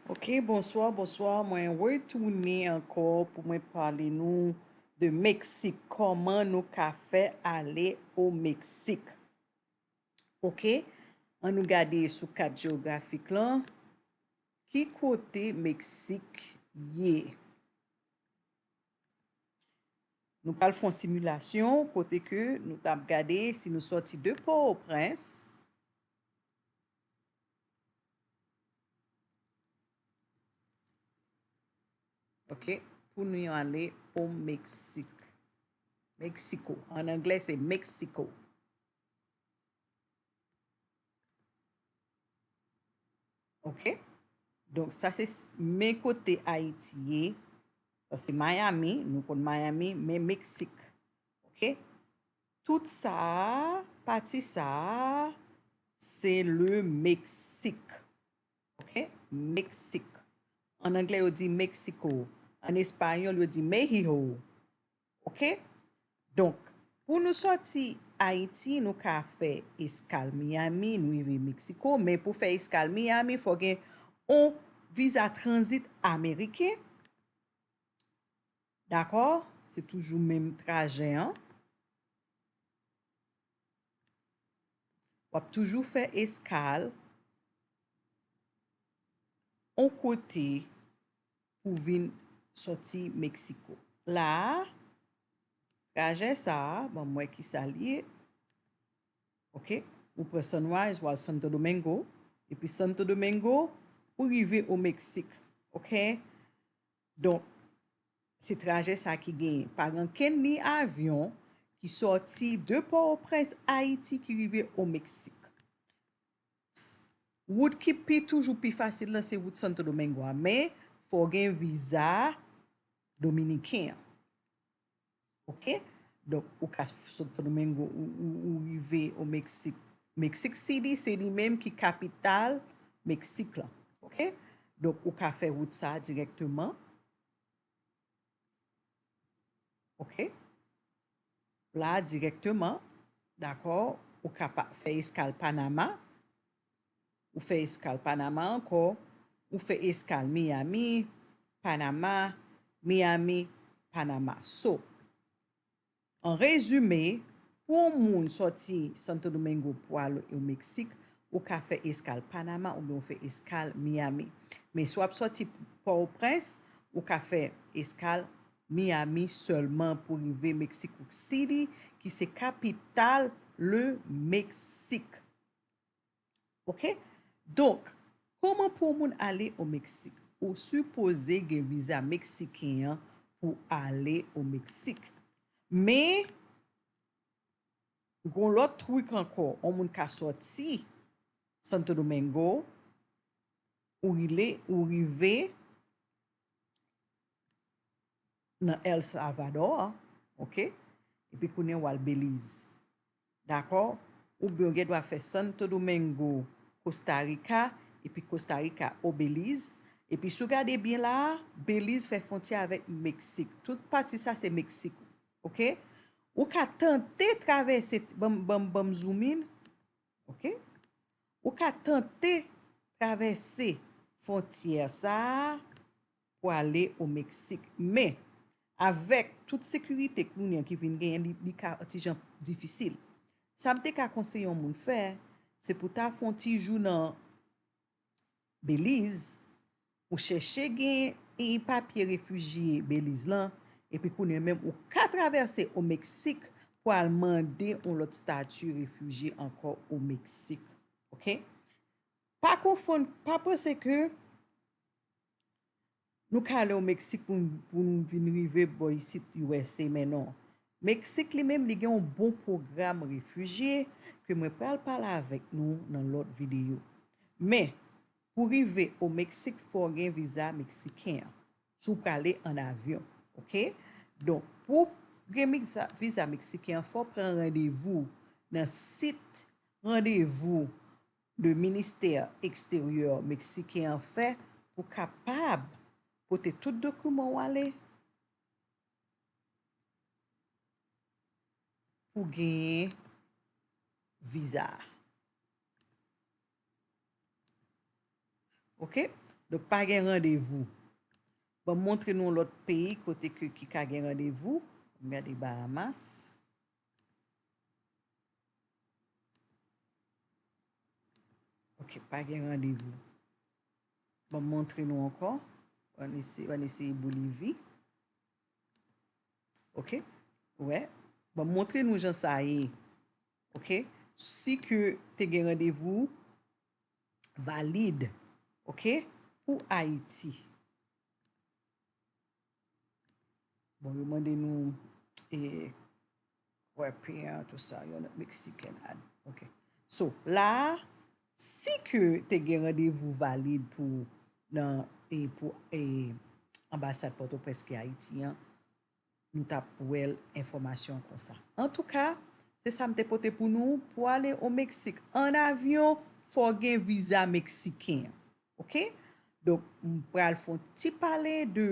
Ok bonswa bonswa mwen retounen ankò pou mwen pale nou de meksik kòman nou ka fè ale o meksik ok an nou gade sou kat geografik lan ki kote meksik ye nou pral fon similasyon kote ke nou tap gade si nou sòti de pò o prens Ok, pou nou yon ale o Meksik. Meksiko. An anglè se Meksiko. Ok. Donk sa se men kote Ayiti ye. Sa se Miami. Nou kon Miami. Men Meksik. Ok. Tout sa a, pati sa a, se le Meksik. Ok? Meksik. An angle yo di Mexico. An espayòl yo di Mexiho. Ok? Donk, pou nou sòti Ayiti, nou ka fè eskal Miyami, nou rive Meksiko, men pou fè eskal Miyami, fò gen yon viza tranzit ameriken. Dakò, se toujou menm trajè an. W ap toujou fè eskal yon kote pou w vin soti Meksiko. La a, trajè sa a, ban m wè ki sa l ye, ok, ou pran Sunrise, w al Santo Domingo, epi Santo Domingo, ou rive o Meksik, ok. Donk, se trajè sa ki genyen pa rankenn ni avyon ki sòti de Pòtoprens, Ayiti ki rive o Meksik. Wout ki pi toujou pi fasil lan se wout Santo Domingo a men fò w gen viza dominiken an. Ok donk ou ka sotpnomengo ou rive o meksik meksik sidi se li menm ki kapital meksik lan ok donk ou ka fè wout sa dirèkteman ok la dirèkteman dakò ou ka pa fè eskal panama Ou fè eskal Panama ankò, ou fè eskal Miami, Panama, Miami, Panama. So, an rezime, pou yon moun sòti Santo Domingo pou al o Meksik, ou ka fè eskal Panama oubyen ou fè eskal Miami. Men si w ap sòti Pòtoprens, ou ka fè eskal Miami sèlman pou rive Meksik City ki se kapital le Meksik. Ok donk koman pou moun ale o Meksik ou sipoze gen viza meksiken an pou ale o Meksik men gon lòt trik ankò on moun ka sòti Santo Domingo ou rive nan El Salvador ok epi kounyea wal Belize dakò oubyen ou gen dwa fè Santo Domingo Costa Rica epi Costa Rica au Belize epi sou gade byen la Belize fè fontyè avèk Mexique tout pati sa se Mexique ou ok ou ka tante travèse banm banm zoom in ok ou ka tante travèse fontyè sa. pou ale o Meksik. Men, avèk tout sekirite kounye ki vin genyen li ka ti jan difisil. Sa m te ka konseye yon moun fè, se pou ta fè yon ti jou nan Beliz, ou chèche genyen papye refijye Beliz lan, epi kounye menm ou ka travèse o Meksik pou al mande yon lòt stati refijye ankò o Meksik. Ok? Pa konfonn, pa panse ke. Nou ka ale o Meksik pou nou vin rive bò isit usa men non. Meksik li menm li gen yon bon pwogram refijye ke mwen pral pale avèk nou nan lòt videyo. Men, pou rive o Meksik fò w gen viza meksiken an, si w prale an avyon. Ok. Donk, pou w gen viza meksiken an fò w pran randevou nan sit randevou le ministè eksteryè meksiken an fè pou kapab pote tout dokiman w ale pou genyen viza a. Ok, donk pa gen randevou. Banm montre nou yon lòt peyi kote ke ki ka gen randevou, gade Bahamas. Ok, pa gen randevou. Bon, montre nou ankò. An ese, an ese Bolivi. Ok, wè. Bon, montre nou jan sa ye. Ok, si ke te gen randevou, valide. Ok, pou Ayiti. Bon yo mande nou e kwepian tou sa yon not meksiken ad. Ok. So, la a, si ke te gen randevou valid pou nan e pou e anbasad Pòtoprens ki Ayiti an, nou t ap wè l enfòmasyon konsa. Antouka, se sa m te pote pou nou. Pou ale o Meksik an avyon, fò w gen viza meksiken an. Ok donk m pral fon ti pale de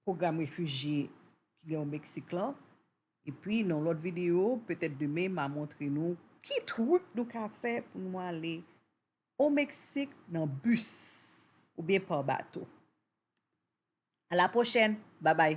pwogram refijye ki gen o Meksik lan epi nan lòt videyo petèt demen ma montre nou ki truk nou ka fè pou nou ale o Meksik nan bis oubyen pa bato. A la pwochèn! Babay!